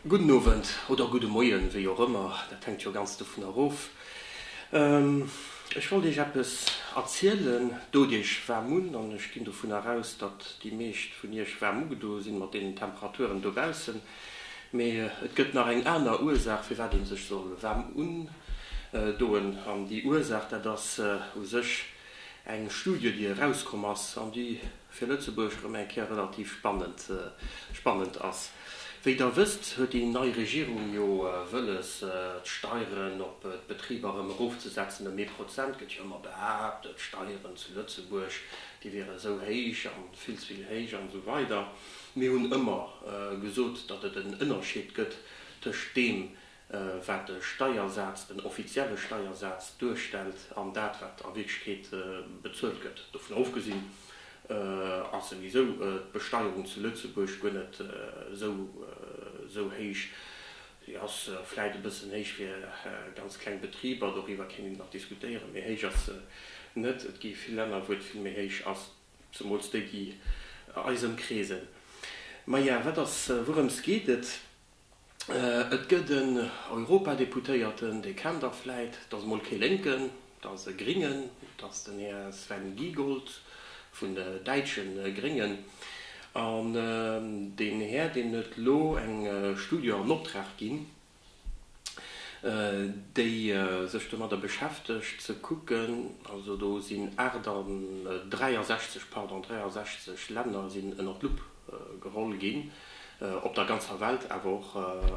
Gudden Owend oder gudde Moien, wéi och ëmmer, dat hänkt jo ganz dovun erof. Ech wollt Iech eppes erzielen. D'Audiech waarm un an ech ginn dovun eraus, datt déi meescht vun Iech waarm ugedoe sinn mat deenen Temperaturen dobaussen. Mee et gëtt nach eng aner Ursaach, firwat ee sech soll waarm undoen. An déi Ursaach, dat ass u sech eng Studie, déi erauskomm ass an déi fir Lëtzebuerg erëm eng Kéier relativ spannend ass. Wéi Der wësst, huet déi nei Regierung jo wëlles, d'Steieren op d'Betriber erëm erofzesetzen ëm ee Prozent. Gëtt jo ëmmer behaapt, d'Steieren zu Lëtzebuerg, déi wiere sou héich a vill ze vill héich an esou weider. Mir hunn ëmmer gesot, datt et en Ënnerscheed gëtt tëscht deem, wat de Steiersaz, den offizielle Steiersaz duerstellt an dat, wat a Wierklechkeet bezuelt gëtt. Dovun ofgesinn ass souwisou d'Besteierung zu Lëtzebuerg guer net esou héich. Si ass vläicht e bëssen héich fir ganz kleng Betriber, doriwwer kéint een nach diskutéieren, mee héich ass se net. Et gi vill Länner, wou et vill méi héich ass, zemools déi, déi eis ëmkreesen. Maja, wat ass, wourëms geet et? Et gëtt en Europadeputéierten, Dir kennt der vläit, dat ass emol kee Lénken, dat ass e Gringen, dat ass den Här Sven Giegold vun de däitsche Gréngen. An deen Här, deem huet elo eng Studie an Optrag ginn, déi sech domadder beschäftegt ze kucken, also do sinn 8 an, 63, pardon, 63 Länner sinn ënner d'Lupp geholl ginn, op der ganzer Welt, awer och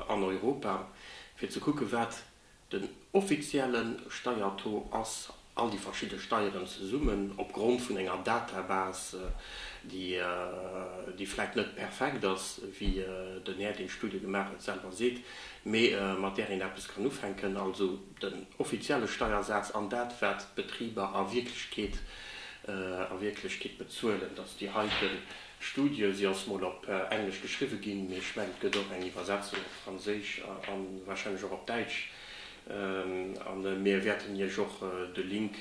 an Europa, fir ze kucken, wat den offizielle Steiertaux ass, all déi verschidde Steieren zesummen, opgrond vun enger Databas, déi vläicht net perfekt ass, wéi den Här, deen d'Studie gemaach huet, selwer seet, mee mat där een eppes kann ufänken, also den offizielle Steiersaz an dat, wat d'Betriber a Wierklechkeet bezuelen, dass déi heiten Studie, si ass mol op Englesch geschriwwe ginn, mee ech mengen et gëtt och eng Iwwersetzung op Franséisch a warscheinlech och op Däitsch, a mir wäerten Iech och de Link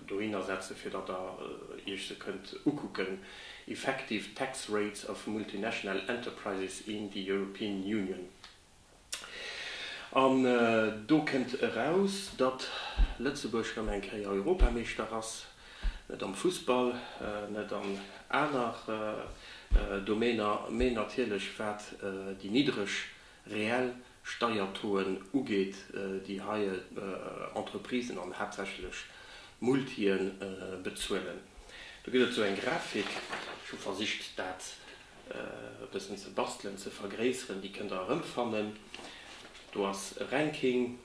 dohinner setzen, fir datt Der Iech se kënnt ukucken, Effective tax rates of multinational enterprises in the European Union. An do kënnt eraus, datt Lëtzebuerg rëm eng Kéier Europameeschter ass, net am Fussball, net an aner Domäner, mee natierlech wat déi niddreg reell Steiertoen ugeet, déi hei Entreprisen an haaptsächlech Multien bezuelen. Do gëtt et esou eng Grafik, ech hu versicht dat e bëssen ze bastelen, ze vergréisseren, déi kënnt der erëmfannen. Do ass e Ranking,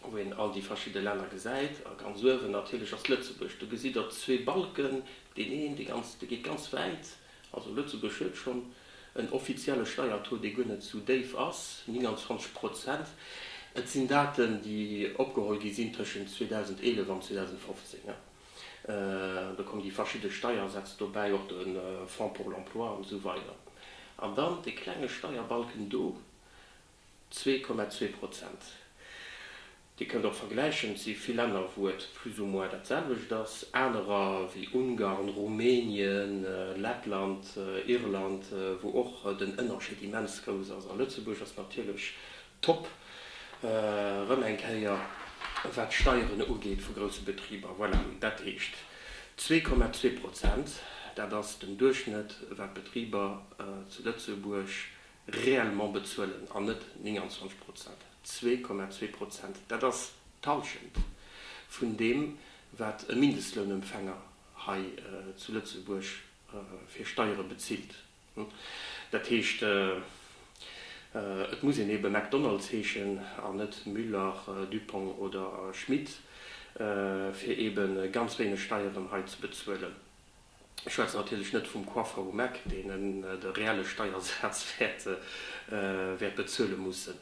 wou een all déi verschidde Länner gesäit. A ganz uewen natierlech ass Lëtzebuerg. Do gesitt der zwee Balken, deen een, dee ganz, dee geet ganz wäit. Also Lëtzebuerg huet schonn en offizielle Steiertaux, dee guer net sou déif ass, 29 Prozent. Et sinn Daten, déi opgeholl gi sinn tëschent 2011 an 2015. Do kommen déi verschidde Steiersätz dobäi, och de Fonds pour l'emploi an esou weider. An dann dee klenge Steierbalken do, zwee Komma zwee Prozent. Dir kënnt och vergläichen, et si vill Länner, wou et plus ou moins dat selwecht ass, anerer, wéi Ungarn, Rumänien, Lettland, Irland, wou och den Ënnerscheed immens grouss ass. A Lëtzebuerg ass natierlech Top erëm eng Kéier wat d'Steieren ugeet vu grousse Betriber. Voilà, dat heescht zwee Komma zwee Prozent, dat ass den Duerchschnëtt wat d'Betriber zu Lëtzebuerg réellement bezuelen an net 29 Prozent. Zwee Komma zwee Prozent, dat ass d'Halschent vun deem wat e Mindestlounempfänger hei zu Lëtzebuerg fir Steiere bezilt. Dat heescht, et muss een ebe McDonalds heeschen an net Müller, Dupong oder Schmit, fir ebe ganz wéineg Steieren hei ze bezuelen. Ech schwätzen natierlech net vum Coiffeur um Eck, deen de reelle Steiersaz wäert bezuele mussen.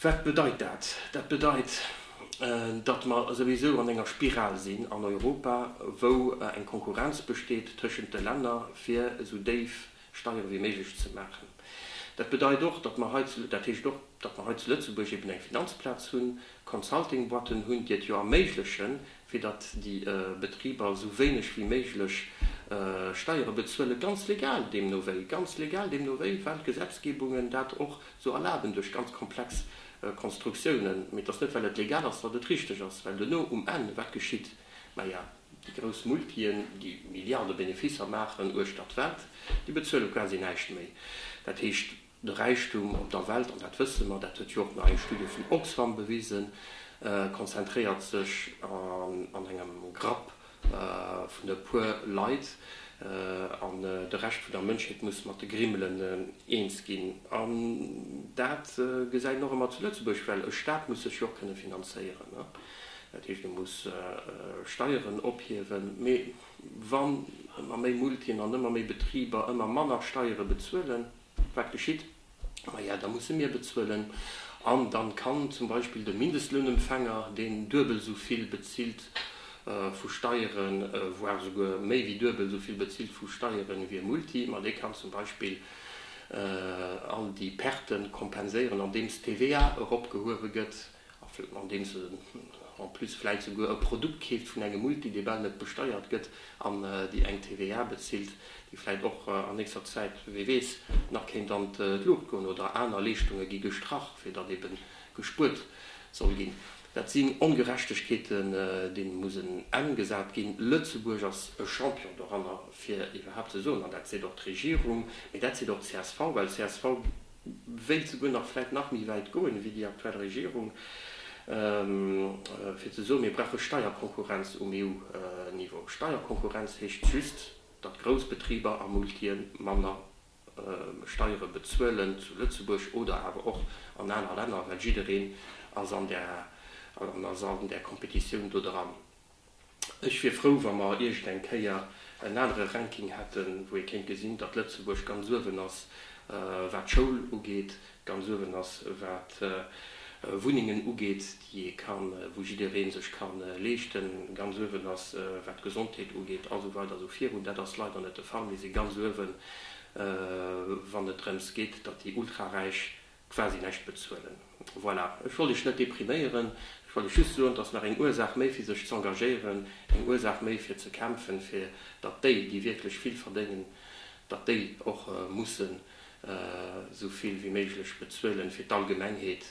Wat bedeit dat? Dat bedeit, datt mer souwisou an enger Spiral sinn an Europa, wou eng Konkurrenz besteet tëschent de Länner, fir esou déif Steiere wéi méiglech ze maachen. Dat bedeit och, datt mer hei zu, dat heescht och, datt mer hei zu Lëtzebuerg eben eng Finanzplaz hunn, Consulting-Boîten hunn, déi et jo erméiglechen, fir datt déi Betriber esou wéineg wéi méiglech Steiere bezuelen, ganz legal deemno wéi, ganz legal deemno wéi, well d'Gesetzgebungen dat och Sou erlaben duerch ganz komplex Konstruktiounen, mee et ass net well et legal ass, datt et richteg ass, well duerno um Enn wat geschitt? Maja, déi grouss Multien, déi Milliarde Beneficer maachen uechtert d'Welt, déi bezuele quasi näischt méi. Dat heescht, de Räichtum op der Welt, an dat wësse mer, dat huet jo och nach eng Studie vun Oxfam bewisen, konzentréiert sech an engem Grapp vun e puer Leit an de Rescht vun der Mënschheet muss mat de Grimmelen eens ginn. An dat gesäit een och ëmmer zu Lëtzebuerg, well e Staat muss sech jo och kënne finanzéieren. Dat heescht, e muss Steieren ophiewen. Mee wann ëmmer méi Multien an ëmmer méi Betriber ëmmer manner Steiere bezuelen, wat geschitt? maja, da musse mir bezuelen an dann kann zum Beispill de Mindestlounempfänger, deen duebel esou vill bezilt vu Steieren, voire esouguer méi wéi duebel esou vill bezilt vu Steieren wéi e Multi, ma dee kann zum Beispill all déi Perten kompenséieren andeems d'TVA eropgehuewe gëtt. andeems en en plus vläit souguer e Produkt keeft vun engem Multi, dee bal net besteiert gëtt, an déi eng TVA bezilt, déi vläit och an nächster Zäit, wie weess, nach kéint an d'Luucht goen, oder aner Leeschtunge gi gestrach, fir datt ebe gespuert soll ginn. Dat sinn Ongerechtegkeeten, deene muss en Enn gesat ginn. Lëtzebuerg ass e Champion doranner, fir iwwerhaapt ze soen, an dat seet och d'Regierung, mee dat seet och d'CSV, well csv, wéilt souguer nach vläit nach méi wäit goen ewéi déi aktuell Regierung, fir ze soen, mir brauche Steierkonkurrenz um EU-Niveau. Steierkonkurrenz heescht just, datt grouss Betriber a Multië manner Steiere bezuelen zu Lëtzebuerg oder awer och an aner Länner, well jiddereen ass an där Competitioun do dran. Ech wier frou, wa mer iergendeng Kéier en anere Ranking hätten, wou ee kéint gesinn, datt Lëtzebuerg ganz uewen ass, wat d'Schoul ugeet, ganz uewen ass, wat Wunnengen ugeet, déi ee kann, wou jidderee sech ka leeschten, ganz uewen ass, wat d'Gesondheet ugeet a sou weider a sou virun. Dat ass leider net de Fall. Mir si ganz uewen, wann et drëms geet, datt déi Ultraräich quasi näischt bezuelen. Voilà, ech wollt Iech net depriméieren, ech wollt Iech just soen, dass nach eng Ursaach méi fir sech z'engagéieren, eng Ursaach méi fir ze kämpfen, fir datt déi, déi wierklech vill verdéngen, datt déi och mussen esou vill wéi méiglech bezuelen fir d'Allgemengheet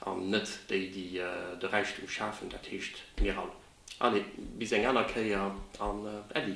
an net déi, déi de Räichtum schafen, dat heescht mir all. Allez, bis eng aner Kéier an Äddi!